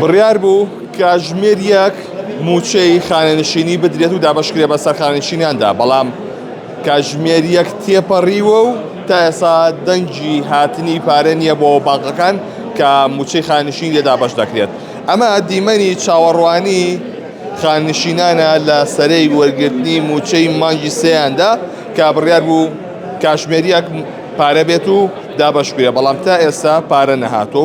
بڕیار بوو کاژمێر یەک مووچەی خانەنشینی بدرێت و دابەشکرێ بە سەرخانشینیاندا بەڵام کاژمێر یەک تێپەڕیوە و تا ئێسا دەنگی هاتنی پارە نییە بۆ بانقەکان کە مووچەی خانشین لێدا بەش دەکرێت ئەمە دیمەنی چاوەڕوانی خانشینانە لە سەرەی وەرگرتنی مووچەی مانگی سێیاندا کە بڕیار بوو کاژمێریەک پارە بێت و دابەشکرێ بەڵام تا ئێستا پارە نەهاتۆ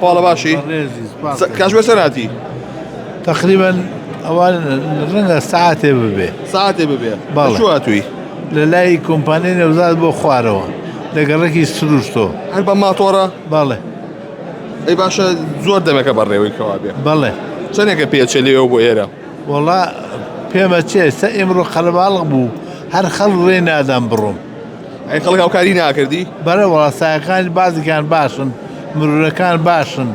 پاڵە باشی کاش بەسەر هاتی تقریبا ئەوان ڕەنگە ساعتێ ببێ ساعتێ ببێ باڵاتوی لە لای کۆمپانیای نەوزاد بۆ خوارەوە لە گەڕێکی سروشتۆ هەر بە ماتۆڕە باڵێ ئەی باشە زۆر دەمەکە بەڕێوەی کەوا بێ بەڵێ چەندێکە پێچە لێەوە بۆ ئێرە وڵا پێمە چێ سە ئێمڕۆ قەلباڵق بوو هەر خەڵ ڕێ نادام بڕۆم ئەی خەڵک هاوکاری ناکردی بەرەوە سایەکانی بازیکان باشن مرورەکان باشن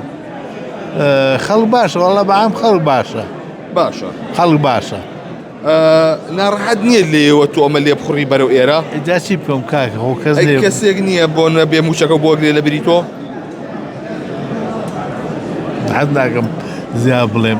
خەڵک باشە وەڵە بەام خەڵک باشە باشە خەڵک باشە ناڕحەت نییە لێەوە تۆ ئەمە لێ بخڕی بەرەو ئێرە جاچی بکەم کاک هۆکەس کەسێک نییە بۆ نە بێ موچەکە بۆ گرێ لە بری تۆ حەز ناکەم زیا بڵێم.